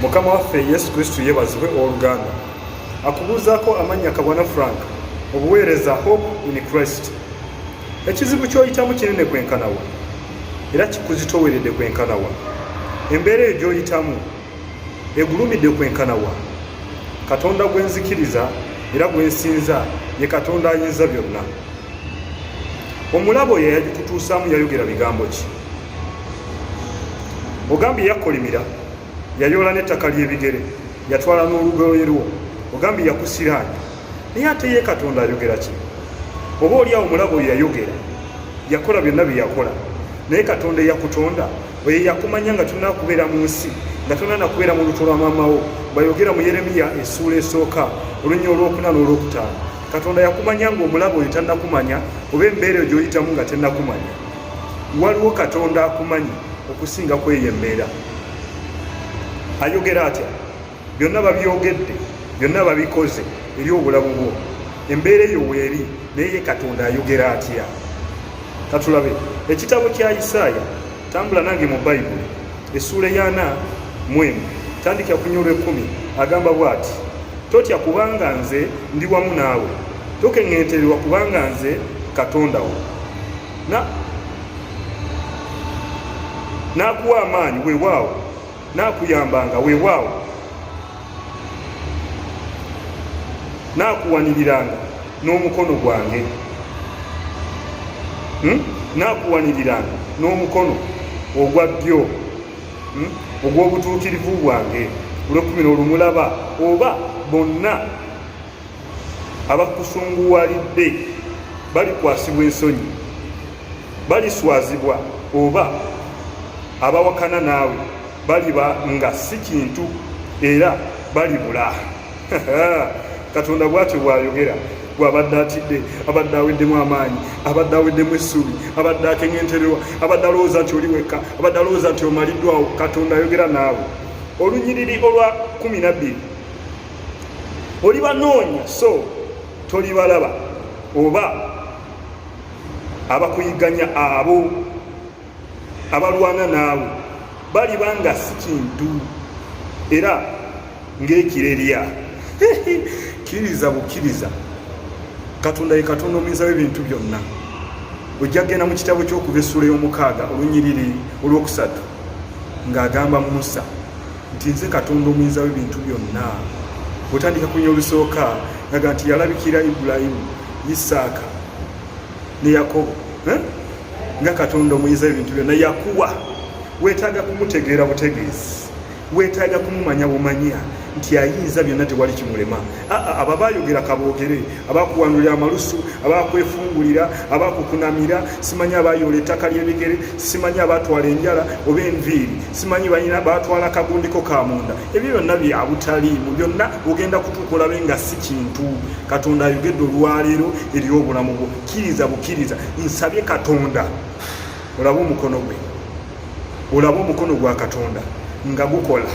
mukama waffe yesu kristu yebazibwe owoluganda akubuuzaako amannya kabwana frank obuweereza hope in christ ekizibu kyoyitamu kinene kwenkanawa era kikuzitoweredde kwenkanawa embeera eyo gyoyitamu egulumidde kwenkana wa katonda gwe nzikiriza era gwe nsinza ye katonda ayinza byonna omulabo oyo yayagikutuusaamu yayogera bigambo ki ogambye yakolimira yayoola n'ettaka ly'ebigere yatwala n'olugoye lwo ogambye yakusiraani naye ate ye katonda ayogera ki oba oli awo mulabo oyo yayogera yakola byonna bye yakola naye katonda eyakutonda oyo yakumanya nga tulina kubeera mu nsi nga tulina nakubeera mu lutu lwa maamawo bayogera mu yeremiya esuula esooka olunya olwokuna n'olwokutaano katonda yakumanya nga omulabo oyo tanakumanya oba embeera eyo gyoyitamu nga tenakumanya waliwo katonda akumanyi okusinga kweyo embeera ayogera atya byonna babyogedde byonna babikoze eri obulamu bwo embeera eyo weeri naye ye katonda ayogera atya katulabe ekitabo kya isaaya tambula nange mu bayibuli essuula eyaana mwemu tandikira ku nyolwa ekkumi agamba bw'ati totya kubanga nze ndi wamu naawe tokeŋŋentererwa kubanga nze katonda wo n'akuwa amaanyi weewaawo naakuyambanga weewaawo naakuwaniriranga n'omukono gwange hmm? naakuwaniriranga n'omukono ogwa ddyo hmm? ogw'obutuukirivu bwange olwekumi n'olumulaba oba bonna abakusunguwalidde balikwasibwa ensonyi baliswazibwa oba abawakana naawe baliba nga si kintu era balibula katonda bwatyo bwayogera gwabadde atidde abadde aweddemu amaanyi abadde aweddemu essuubi abadde akeŋentererwa abadde alowooza nti oli wekka abadde alowooza nti omaliddwawo katonda ayogera naawe olunyiriri olwa kumi nabbiri oli banoonya so toli balaba oba abakuyiganya abo abalwana naawe baliba nga si kintu era ng'ekirerya kkiriza bukkiriza katonda ye katonda omuyinza w'ebintu byonna ojja kgenda mu kitabo ky'okuva essuula y'omukaaga olunyiriri olwokusatu ng'agamba musa nti nze katonda omuyinza w'ebintu byonna otandika kunya olusooka aga nti yalabikira ibulayimu isaaka ne yakobo eh? nga katonda omuyinza w'ebintu byonna yakuwa weetaaga kumutegeera butegeezi weetaaga kumumanya bumanya nti ayinza byonna tewali kimulema abo abayogera kaboogere abakuwanulira amalusu abakwefungulira abakukunamira simanyi abayoola ettaka ly'ebigere simanyi abatwala enjala oba enviiri simanyi balina batwala kagundiko ka munda ebyo byonna byabutaliimu byonna ogenda kutuuka olabe nga si kintu katonda ayogedde olwaleero eri obulamu bwo kkiriza bukkiriza nsabye katonda olabe omukono gwe olabe omukono gwa katonda nga gukola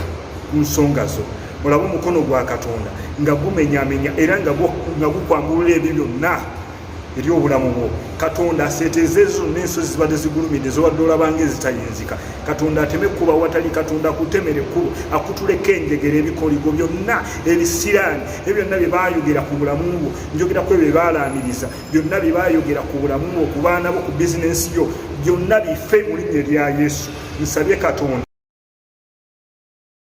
ku nsonga zo olabe omukono gwa katonda nga gumenyamenya era nga gukwangulula ebyo byonna eri obulamu bwo katonda aseeteeza ezo n'ensozi zibadde zigulumidde zobadde olabanga ezitayinzika katonda ateme kuba watali katonda akutemere kkubo akutuleko enjegera ebikoligo byonna ebisiraani ebyo byonna bye baayogera ku bulamu bwo njogera ku ebyo bye baalaamiriza byonna bye baayogera ku bulamu bwo ku baana bo ku bizinensi yo byonna bife mu linnya erya yesu nsabye katonda